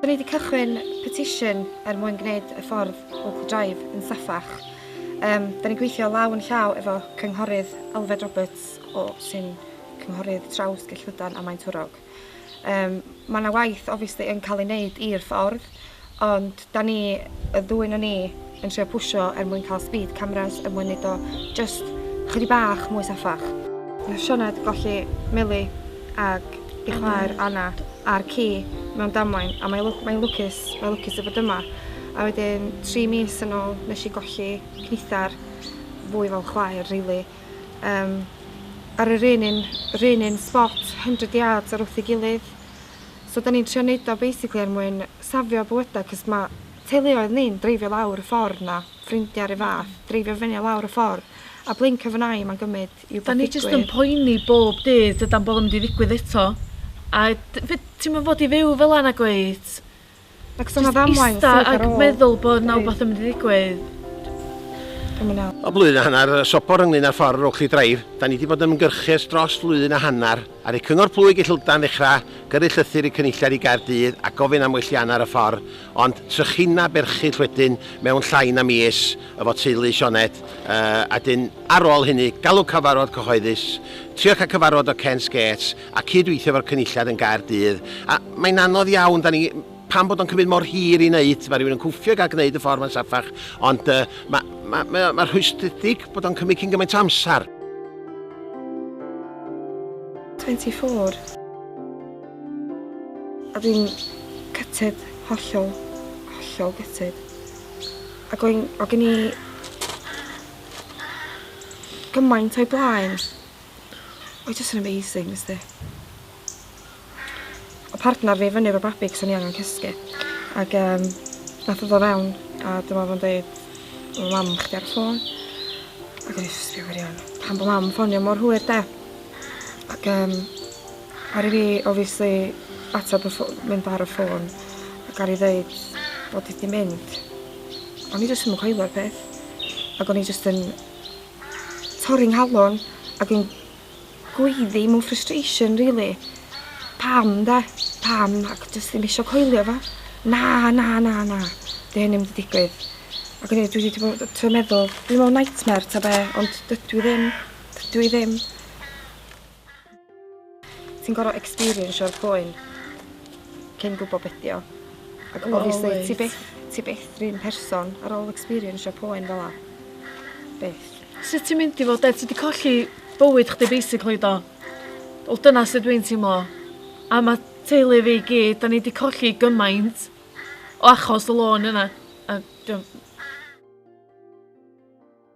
Dw i wedi cychwyn petisiwn er mwyn gwneud y ffordd Oakley Drive yn saffach. Um, da ni'n gweithio law yn llaw efo cynghorydd Alfred Roberts o sy'n cynghorydd traws Gellydan a Maen Twrog. Yym ma' 'na waith obviously yn cael ei wneud i'r ffordd ond da ni, y ddwy na ni, yn trio pwsio er mwyn cael speed cameras er mwyn neud o jyst chydig bach mwy saffach. Nath Sioned golli Mili ag ei chwaer Anna a'r ci mewn damwain a mae lw- mae'n lwcus mae'n lwcus i fod yma a wedyn tri mis yn ôl nes i golli cnithar fwy fel chwaer rili. um, ar yr un un, yr un un spot, 100 yards ar wrth ei gilydd. So da ni'n trio neud o basically er mwyn safio bywydau, cos mae teuluoedd ni'n dreifio lawr y ffordd na, ffrindiau ar y fath, dreifio fyny lawr y ffordd, a blink of an eye mae'n gymryd i Da ni jyst yn poeni bob dydd dydan bod o'n mynd i ddigwydd eto. A ti'n mynd fod i fyw fel yna gweud, Ac so 'na ddamwain syth ar ôl. Jyst ista ag meddwl bod 'na wbath yn mynd i ddigwydd. Dwi'm yn iawn. O blwyddyn a hanner y sobor ynglŷn â'r ffordd rowch chi ddraif, 'da ni 'di bod yn ymgyrchus dros flwyddyn a hanner ar eu Cyngor Plwyg i Llundain ddechra gyrru llythyr i Cynulliad i Gaerdydd a gofyn am wellianna ar y ffordd ond trychineb erchyll wedyn mewn llai na mis efo teulu Sioned yy a 'dyn ar ôl hynny galw cyfarfod cyhoeddus trio cael cyfarfod o Kent's Gates a cyd-weithio efo'r cynulliad yn Gaerdydd, a mae'n anodd iawn, 'dan ni, pam bod o'n cymryd mor hir i wneud, mae rhywun yn cwffio i gael gwneud y ffordd mae'n saffach, ond yy ma- ma- mae o, mae'n rhwystredig bod o'n cymryd cyn gymaint o amser. 24. Oedd hi'n gutted, hollol, hollol gutted. Ac oedd oedd gen i gymaint o'i blaen. Mae jyst yn amazing, nes di. O partner fi fyny efo babi cos o'n i angen cysgu. Ac um, nath o ddo fewn a dyma fo'n dweud, mae mam chdi ar y ffôn. Ac o'n i jyst yn gwirion, pan bod mam ffonio mor hwyr de. Ac um, ar i fi, obviously, ateb y ffôn, mynd ar y ffôn. Ac ar i ddeud bod i di mynd. O'n i jyst yn coelio'r peth. Ac o'n i jyst yn torri 'nghalon ag yn gweiddi mewn frustration rili. Pam 'de? Pam? Ac jyst ddim isio coelio fo. Na na na na. 'Di hyn 'im 'di digwydd. Ac o'n i dwi 'di bod yy t'o' meddwl dwi mewn nightmare ta be' ond dydw i ddim. Dydw i ddim. Ti'n gorfod experiensio'r poen cyn gwybod beth dio. Ac well, obviously wait. ti byth, ti byth rhywun person ar ôl experiensio poen fel la. Byth. Sut ti'n mynd i fod de? Ti di colli bywyd chdi basically do? Wel dyna sut dwi'n teimlo. A mae teulu fi gyd, da ni di colli gymaint o achos y lôn yna. A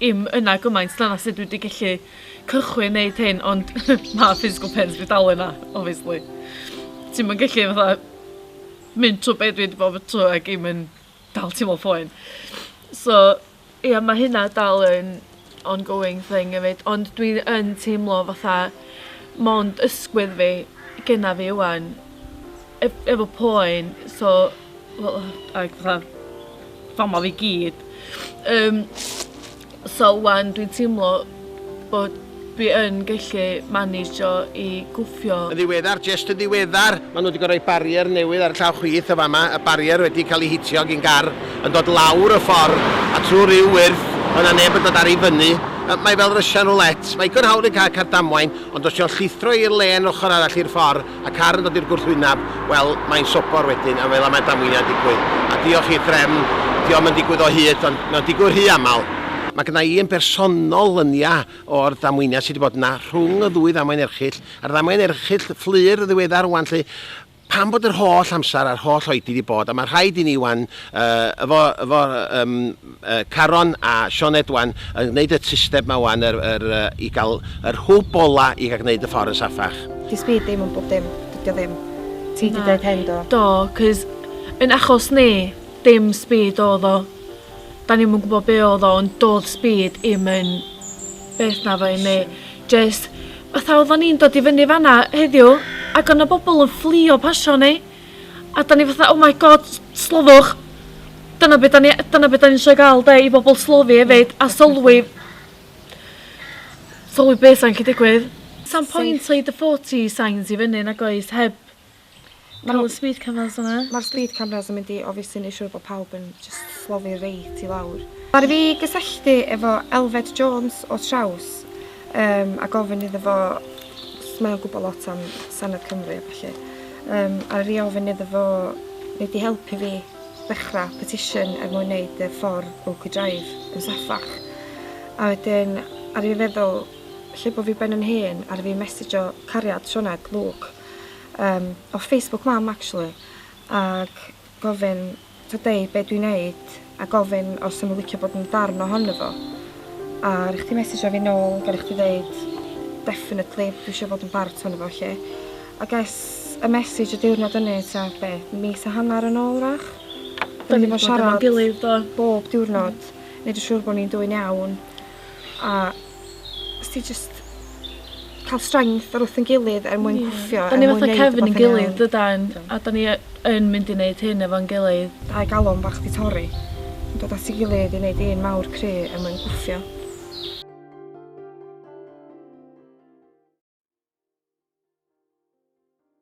dim yna gymaint dyna sut dwi 'di gellu cychwyn neud hyn ond ma' physical pain fi dal yna obviously. Ti'm yn gellu fatha mynd trw be' dwi 'di bod trw ag 'im yn dal teimlo poen. So ia ma' hynna dal yn ongoing thing efyd ond dwi yn teimlo fatha mond ysgwydd fi genna fi ŵan ef- efo poen so Wel ag fatha fama fi gyd yym so ŵan dwi'n teimlo bod fi yn gellu maneisio i gwffio. Yn ddiweddar, jest yn ddiweddar, maen nhw wedi gorfod rhoi barrier newydd ar y llaw chwith yn fama, y barrier wedi cael ei hitio gin gar yn dod lawr y ffordd a trwy ryw wyrth oedd 'na neb yn dod ar ei fyny. Yy mae fel Russian roulette, mae digon hawdd yn cael car damwain ond os dio'n llithro i'r lên ochr arall i'r ffordd A car yn dod i'r gwrthwyneb, wel, mae'n sobor wedyn, a fel y mae damweiniau'n digwydd. A diolch i'r drefn, dydy o'm yn digwydd o hyd, ond mae o'n digwydd rhy aml. Mae gynna i yn bersonol lyniau o'r damweiniau sy' 'di bod yna rhwng y ddwy ddamwain erchyll, a'r ddamwain erchyll fflur yn ddiweddar rŵan 'lly, pam bod yr holl amser a'r holl oedi 'di bod, a mae'n rhaid i ni 'wan, yy, efo, efo, yym, Caron a Sioned wan yn gneud y tysteb ma wan yr yr i gal yr hwb ola i ga gneud y ffor yn safach. Di speed dim yn bob dim, dydio ddim. Ti di deud hyn do? Do, cos yn achos ni, dim speed odd o. Da ni'm yn gwbo be odd o ond dodd speed i'm yn beth na fo i mi. Jyst fatha odda ni'n dod i fyny fanna heddiw ag o na bobl yn fflio pasio ni. A 'dan ni fatha oh my God s- slofiwch! Dyna be' 'dan ni yy dyna be' 'dan ni isio ga'l 'de i bobol slofi efyd a sylwi sylwi be' sa'n gallu digwydd. Sa'm point rhoid y forty signs i fyny nag oes heb Ma' n'w... Ca'l y speed cameras yna. Ma'r speed cameras yn mynd i obviously neu' siŵr bo' pawb yn jyst slofi reit i lawr. Ar i fi gysylltu efo Elfed Jones o Traws um, a gofyn iddo fo, mae o'n gwybod lot am Senedd Cymru a felly, um, a rhi ofyn iddo fo wneud i helpu fi ddechrau petition er mwyn wneud y ffordd Oakley Drive yn saffach. A wedyn, ar ei feddwl, lle bod fi ben yn hen, ar fi messejo cariad Sioned, Luke, um, o Facebook mam actually, ac Gofyn, ta deud be dwi'n neud, a gofyn os sa nhw'n licio bod yn darn ohono fo. A rhaid chdi mesejio fi nôl, gyrru chdi ddeud, definitely, dwi isio bod yn bart ohono fo, lle. A ges y mesij y diwrnod ynny, ta be, mis a hanner yn ôl, wrach. Da ni 'di bod yn siarad... Da ni 'di bod efo'n gilydd, do. ...bob diwrnod, neud yn siŵr bod ni'n dwyn iawn. a os ti jyst ca'l strength ar wrth 'yn gilydd er mwyn gwffio er mwyn neud... 'Dan ni fatha cefn ein gilydd dydan? A 'dan ni y- yn mynd i neud hyn efo'n gilydd. Dau galon bach 'di torri. Yn dod at 'i gilydd i neud un mawr cry er mwyn gwffio.